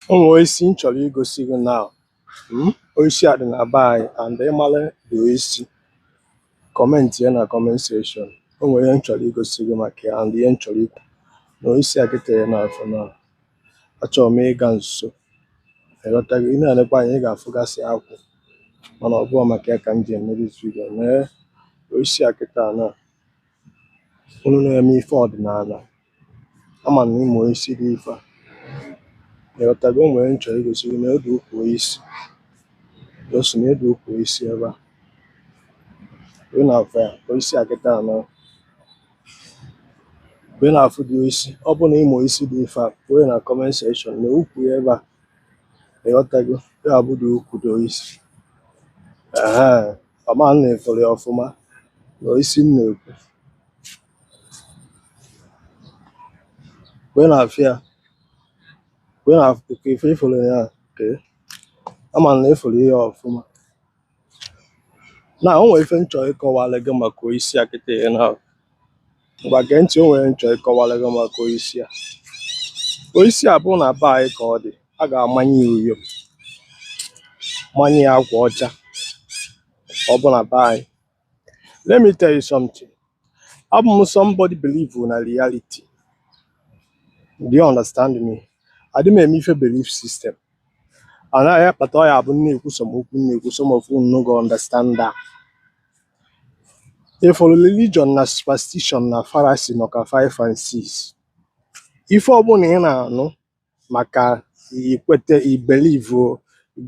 O nwere oisi m chọrọ igosi gị na mm, oisi a dị na be anyị and ị mara the oisi commentị ya na comment section o nwere ihe m chọrọ igosi gị maka ya and ihe m chọrọ ikwu na oisi a kịta ị na-afụ na achọrọ m ịga nso ịghọtago ị na-elekwa anya ị ga-afụgasị akwụ mana ọ bụghị maka ya ka m ji eme this video mee oisi a kịta na unu na-eme ife ọdịnala ama m na ị ma oisi dị ife a ịghọtago o nwere m chọ igosi gị nee the ukwu oisi gosi nee the ukwu oisi ebe a ị na-afụ ya ka oisi a kịta anọ mgbe ị na-afụ the oisi ọ bụ na ị ma oisi dị ife a dee na comment section nee ukwu ya ebe a ịghọtago ya bụ the ukwu the oisi ehe ama m na ị fụrụ ya ọfụma nee oisi m na-ekwu wee na-afụ ya wee na ife ị fụrụ ya ee ama m na ị fụrụ ya ọfụma na o nwere ife m chọ ịkọwara gị maka oisi a kịta ihe na ngwa gee ntị o nwere m chọ ịkọwara gị maka oisi a oisi a bụ na be anyị ka ọ dị a ga-amanye ya uyo manye ya akwa ọcha ọ bụ na be anyị Let me tell you something. I'm somebody believe in a reality. Do you understand me? I didn't make me feel belief system. And I but I have neku some open some of you no go understand that. If for religion na superstition na fallacy no ka five and six. If ọ bụrụ na ị na-anụ maka ị kwete ị believe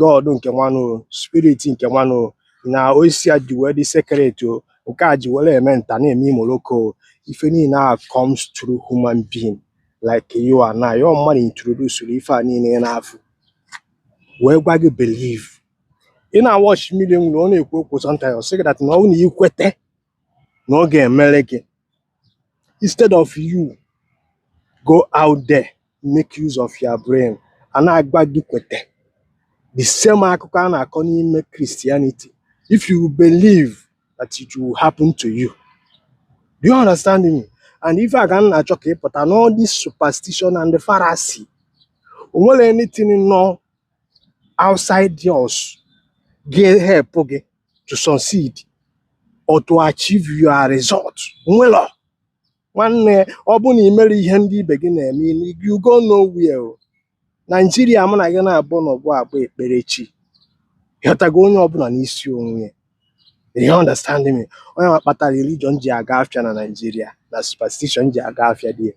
God nke nwanụ spirit nke nwanụ na oisi a ji wee dị sacred or nke a ji were eme nta na-eme imoloko ife niile a comes through human being like you and I ọ mmadụ introduce ife a niile ị na-afụ wee gwa gị believe ị na-awatch mmiri enwe ilo ọ na-ekwu okwu sometimes ọ sị gị that na ọ bụ na ị kwete na ọ ga-emere gị instead of you go out there make use of your brain a na-agwa gị kwete the same akụkọ a na-akọ n'ime Christianity if you believe that it will happen to you do you understand me and ife a ka m na-achọ ka ị pụta na all this superstition and the fallacy o nwerọ anything nọ outside yours ga-ehelp gị to succeed or to achieve your result nwelọ nwanne ọ bụ na i mere ihe ndị ibe gị na-eme you go nowhere o. Naijiria mụ na gị na-abụ n'ọbụ abụ ekpere chi ịghọtago onye ọbụla n'isi onwe ya you understand me onye ma kpatara religion ji aga afịa na Naijiria na superstition ji aga afịa there